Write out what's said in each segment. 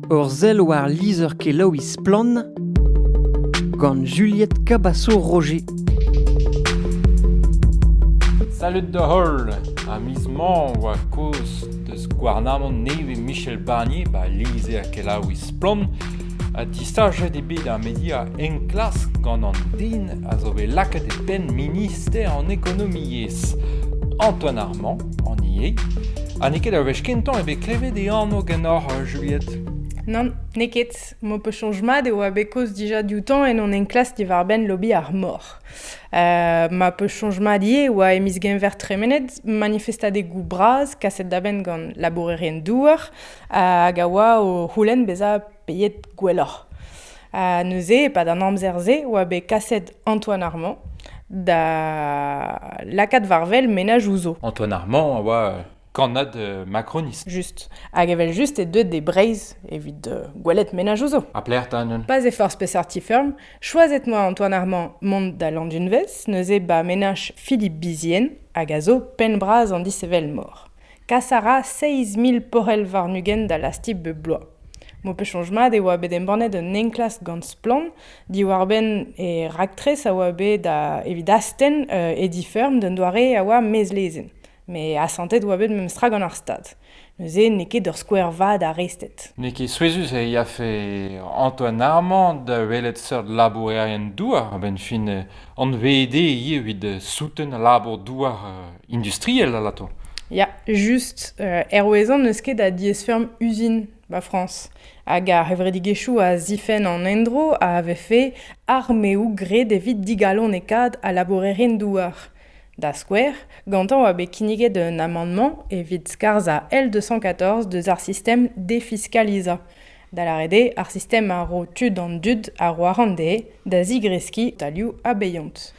Ur sell war lizher-kelaouiñ Splann! gant Juliette Cabasso-Roger. Salud da holl! Ha miz mañ oa kozh deus gouarnamant nevez Michel Barnier, ba lizher-kelaouiñ Splann! ha distaget eo bet ar media enklask gant an den a zo bet lakaet e penn minister an ekonomiezh, Antoine Armand. An ivez. Ha n'eo ket ur wech kentañ eo bet klevet e anv ganeoc'h Juliette. Nann, n'eo ket. M'ho peus soñj mat e oa bet kaoz dija dioutañ en hon enklask diwar-benn lobby ar mor. Uh, ma peus soñj mat ivez e oa e miz Genver tremenet manifestadegoù bras kaset da benn gant labourerien-douar hag a oa o c'houlenn bezañ Beet gwelloc'h. Ha neuze, e-pad an amzer-se, oa bet kaset Antoine Armand da lakaat war-wel menaj ouzo. Antoine Armand a oa euh, kannad euh, macronist. Just. Hag evel-just eo deuet de Breizh evit euh, gwelet menaj ouzo. Ha plec'h ta neuze? Pas e forzh peseurt ti feurm. Choazet-moi Antoine Armand mont da Landunvez, neuze ba menaj Philippe Bizien, hag a zo penn-bras an dishevelmor. Kas a ra seizh mil porc'hell warn-ugent da lastik bep bloaz. M'ho peus soñj mat e oa bet embannet un enklask gant Splann! diwar-benn e raktres a oa bet da evit astenn e di-feurm d'un doare a oa mezlezenn. Met asantet oa bet memestra gant ar Stad. Neuze n'eo ket ur skouer vat a rested. N'eo ket souezhus e yafe Antoine Armand da welet seurt labourerien douar a-benn fin anvd ivit souten al labour douar industriel alato. Ya, just. Euh, Erwezan n'eus ket a diaesfeurm uzin 'ba Frañs. Hag ar c'hevredigezhioù a zifenn an endro a vefe armeoù graet evit digalonekaat al labourerien-douar. Da skouer, gantañ oa bet kinniget un amandement evit skarzhañ L214 deus ar sistem defiscalizañ. da lâret eo ar sistem a ro tud an dud a ro arc'hant dezhe da zigreskiñ talioù abeiant.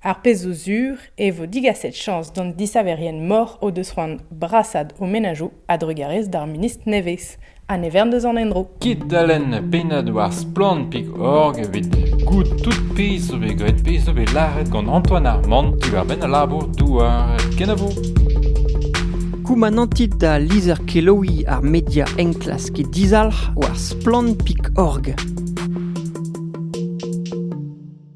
Ar pezh zo sur e vo digaset chañs d'an disaverien-mor o deus c'hoant brasaat o menajoù a-drugarez d'ar ministr nevez ha ne vern deus an endro. Kit da lenn pennad war splann.org evit goût tout pezh zo bet graet pezh zo bet lâret gant Antoine Armand diwar-benn al labour-douar kenavo. Koumanantit da lizher kelaouiñ ar media enklas get dizalc'h war splann.org.